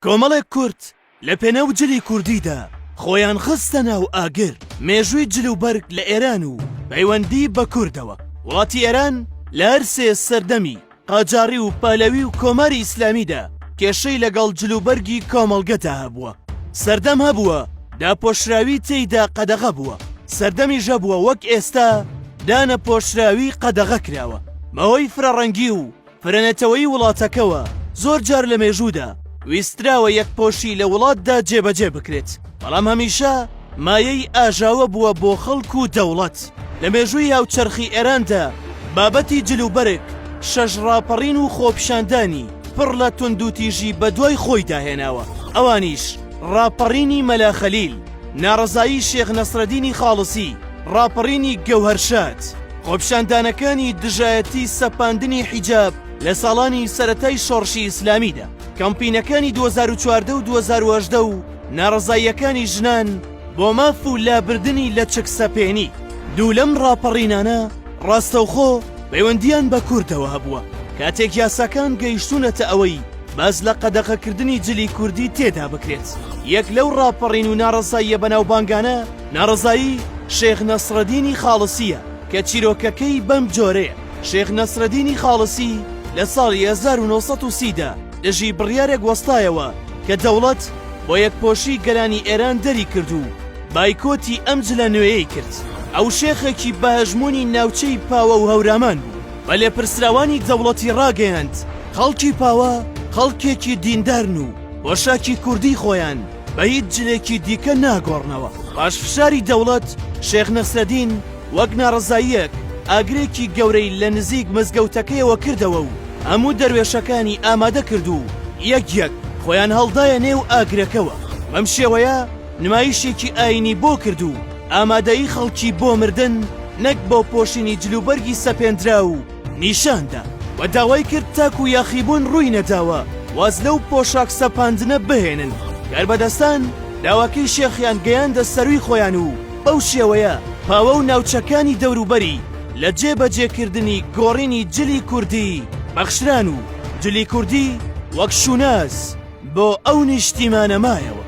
کۆمەڵێک کورد لە پێناو جلی کوردیدا خۆیان خستە ناو ئاگر، مێژووی جل و بەرگ لە ئێران و پەیوەندی بە کوردەوە، وڵاتی ئێران لە هەر سێ سەردەمی قاجاڕی و پەهلەوی و کۆماری ئیسلامیدا کێشەی لەگەڵ جل و بەرگی کۆمەڵگەدا هەبووە، سەردەم هەبووە داپۆشراوی تێیدا قەدەغە بووە، سەردەمیش هەبووە وەک ئێستا دانەپۆشراوی قەدەغە کراوە بەهۆی فرەڕەنگی و پرەنەتەوەیی وڵاتەکەوە زۆر جار لە مێژوودا ویستراوە یەکپۆشی لە وڵاتدا جێبەجێ بکرێت، بەڵام هەمیشە مایەی ئاژاوە بووە بۆ خەڵک و دەوڵەت. لە مێژووی هاوچەرخی ئێراندا بابەتی جل و بەرگ شەش ڕاپەڕین و خۆپیشاندانی پڕ لە توندوتیژی بەدوای خۆیدا هێناوە، ئەوانیش ڕاپەڕینی مەلا خەلیل، ناڕەزایی شێخ نەسرەدینی خاڵسی، ڕاپەڕینی گەوهەرشاد، خۆپیشاندانەکانی دژایەتی سەپاندنی حیجاب لە ساڵانی سەرەتای شۆڕشی ئیسلامیدا، کەمپینەکانی دوو هەزار و چواردە و دوو هەزار و هەژدە و ناڕەزاییەکانی ژنان بۆ ماف و لابردنی لەچکسەپێنی. دوو لەم ڕاپەڕینانە ڕاستەوخۆ پەیوەندییان بە کوردەوە هەبووە، کاتێک یاساکان گەیشتوونەتە ئەوەی، باس لە قەدەغەکردنی جلی کوردی تێدا بکرێت یەک لەو ڕاپەڕین و ناڕەزاییە بەناوبانگانە ناڕزایی شێخ نەسرەدینی خاڵسیە کە چیرۆکەکەی بەم جۆرەیە شێخ نەسرەدینی خاڵسی لە ساڵی 1930 دا دژی بڕیارێک وەستایەوە کە دەوڵەت بۆ یەکپۆشی گەلانی ئێران دەری کرد و بایکۆتی ئەم جلە نوێیەی کرد ئەو شێخێکی بەهەژمونی ناوچەی پاوە و هەورامان بوو بە لێپرسراوانی دەوڵەتی ڕاگەیاند، خەڵکی پاوە خەڵکێکی دیندارن و پۆشاکی کوردیی خۆیان بە هیچ جلێکی دیکە ناگۆڕنەوە. پاشفشاری دەوڵەت، شێخ نەسرەدین وەک ناڕەزاییەک ئاگرێکی گەورەی لە نزیک مزگەوتەکەیەوە کردەوە و هەموو دەروێشەکانی ئامادە کرد و یەک یەک خۆیان هەڵدایە نێو ئاگرەکەوە. بەم شێوەیە، نمایشێکی ئاینی بۆ کرد و ئامادەیی خەڵکی بۆ مردن نەک بۆ پۆشینی جلوبەرگی سەپێندراو نیشاندا و داوای کرد تاکو یاخیبوون ڕووی نەداوە واز لەو پۆشاک سەپاندنە بهێنن کاربەدەستان داواکەی شێخیان گەیاندە سەرووی خۆیان و بەو شێوەیە پاوە و ناوچەکانی دەوروبەری لە جێبەجێکردنی گۆڕینی جلی کوردی بەخشران و جلی کوردی وەک شوناس بۆ ئەو نیشتیمانە مایەوە.